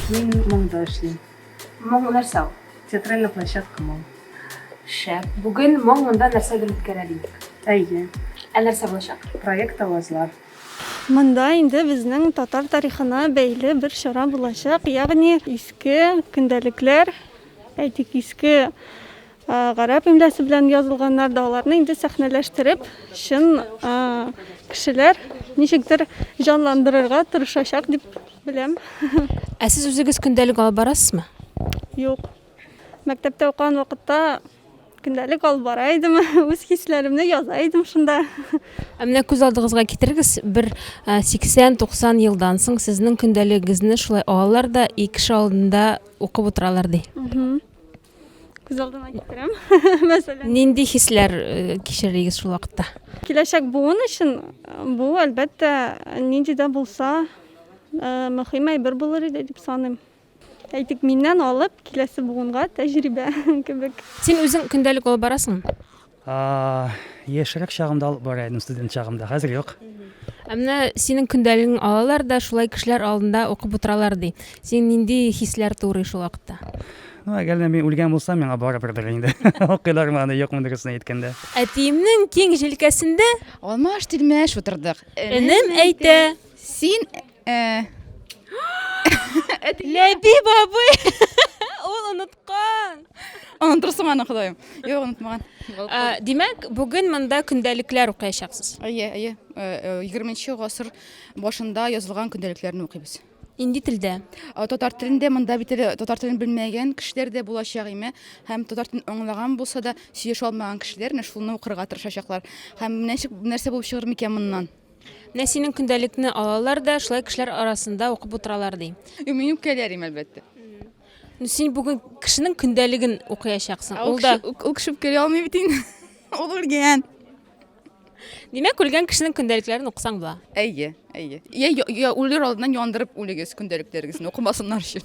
Мин моңда эшлим. Моң нәрсә ул? Театральная площадка моң. Шәп. Бүген моң монда нәрсәдер үткәрә дидек. Әйе. Ә нәрсә булачак? Проект авазлар. Монда инде безнең татар тарихына бәйле бер чара булачак, ягъни иске көндәлекләр, әйтик, иске гарәп имлясы белән язылганнар да, аларны инде сәхнәләштереп, чын кешеләр ничектер җанландырырга тырышачак дип беләм. Ә сез үзегез көндәлек алып барасызмы? Юк. Мәктәптә укыган вакытта Көндәлек алып бара идем, үз хисләремне яза идем шунда. Ә менә күз алдыгызга китерегез, бер 80-90 елдан соң сезнең көндәлегегезне шулай алалар да и кеше алдында укып утыралар ди. Күз алдына китерәм, мәсәлән. Нинди хисләр кичерегез шул вакытта? Киләчәк буын өчен бу, әлбәттә, нинди дә булса, мөһим әйбер булыр иде дип саныйм. Әйтик, миннән алып, киләсе буынга тәҗрибә кебек. Син үзең көндәлек алып барасыңмы? Яшьрәк чагымда алып бара идем, студент чагымда. Хәзер юк. Ә менә синең көндәлегең алалар да, шулай кешеләр алдында укып утыралар, ди. Син нинди хисләр турый шул вакытта? Ну, әгәр дә мин үлгән булсам, миңа барыбердер инде. Укыйлармы аны, юкмы дөресен әйткәндә. Әтиемнең киң җилкәсендә. Алмаш-тилмәш утырдык. Энем әйтә. Син Э. Ләби бабый! Ул оныткан! Онытырсың аны, Ходаем. Юк, онытмаган. Ә, Димәк, бүген монда көндәлекләр укыячаксыз. Әйе, әйе. Э, э, 20 гасыр башында язылган көндәлекләрне укыйбыз. Инди телдә. Ә, Татар телендә монда бит әле татар телен белмәгән кешеләр дә булачак име. Һәм татар телен аңлаган булса да, сөйләшә алмаган кешеләр менә шуны укырга тырышачаклар. Һәм менә ничек- нәрсә булып чыгыр микән моннан? Менә синең көндәлекне алалар да, шулай кешеләр арасында укып утыралар, ди. Мин үпкәләрим, әлбәттә. Ну, син бүген кешенең көндәлеген укыячаксың. Ул да Ул кеше үпкәли алмый бит инде. Ул үлгән. Димәк, үлгән кешенең көндәлекләрен укысаң була. Әйе, әйе. Я, я, я үлер алдыннан яндырып үлегез көндәлекләрегезне укымасыннар өчен.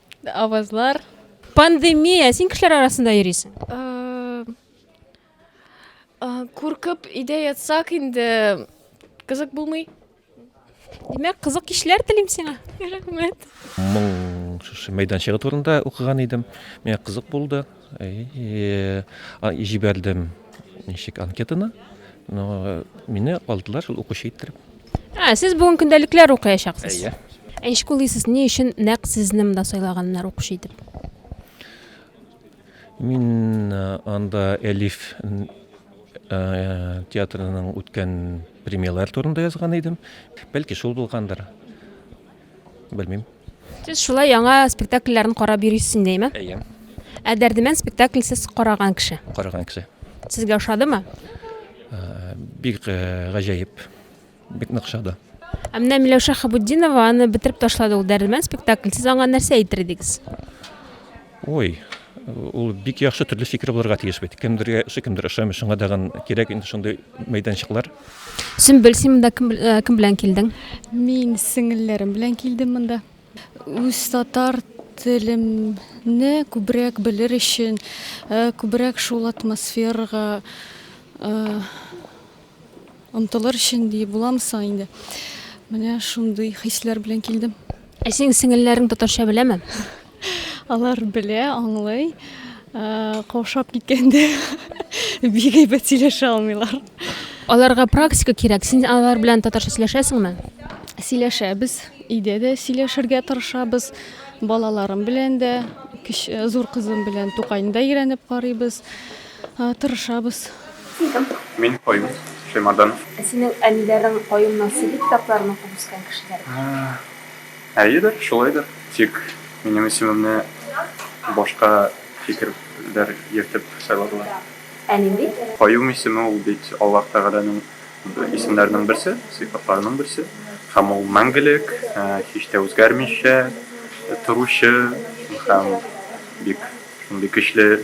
Авазлар. Пандемия, син кешеләр арасында йөрисең? Куркып өйдә ятсак инде кызык булмый. Димәк, кызык кичләр телим сиңа. Рәхмәт. Моң шушы мәйданчыгы турында укыган идем. Миңа кызык булды. Җибәрдем ничек анкетаны. Но мине алдылар шул укучы иттереп. Ә, сез бүген көндәлекләр укыячаксыз. Әйе. Ә ничек уйлыйсыз, ни өчен нәкъ сезне монда сайлаганнар укучы итеп? Мин э, анда Элиф н- э, театрының үткән премьералар турында язган идем. Бәлки шул булгандыр. Белмим. Сез шулай яңа спектакльләрен карап йөрисез инде, әйме? Әйе. Ә Дәрдемән спектакль сез караган кеше. Караган кеше. Сезгә ошадымы? Бик э, гаҗәеп. Бик нык ошады. Ә менә Миләүшә Хабутдинова аны бетереп ташлады ул Дәрдемән спектакль. Сез аңа нәрсә әйтер идегез? Ой, ул бик яхшы төрле фикер булырга тиеш бит. Кемдергә ошый, кемдер ошамый. Шуңа тагын кирәк инде шундый мәйданчыклар. Сөмбел, син монда кем, э, кем белән килдең? Мин сеңелләрем белән килдем монда. Үз татар телемне күбрәк белер өчен, э, күбрәк шул атмосферага э, Онтылыр өчен ди буламы соң инде? Менә шундый хисләр белән килдем. Ә синең сеңелләрең татарча беләме? Алар белә, аңлый. Э, каушап киткәндә бик әйбәт сөйләшә алмыйлар. Аларга практика кирәк. Син алар белән татарча сөйләшәсеңме? Сөйләшәбез. Өйдә дә сөйләшергә тырышабыз. Балаларым белән дә, э, зур кызым белән Тукайны да өйрәнеп карыйбыз. Тырышабыз. Исем, мин Каюм Шәймарданов. Ә синең әниләрең Каюмның сихри китапларын укып үскән кешеләр бит. Әйедер, шулайдыр. Тик минем исемемне башка фикерләр йөртеп сайладылар. Ә нинди? Каюм исеме ул бит Аллаһ Тәгаләнең исемнәренең берсе, сыйфатларының берсе. Һәм ул мәңгелек, һич тә үзгәрмичә торучы һәм бик шундый көчле.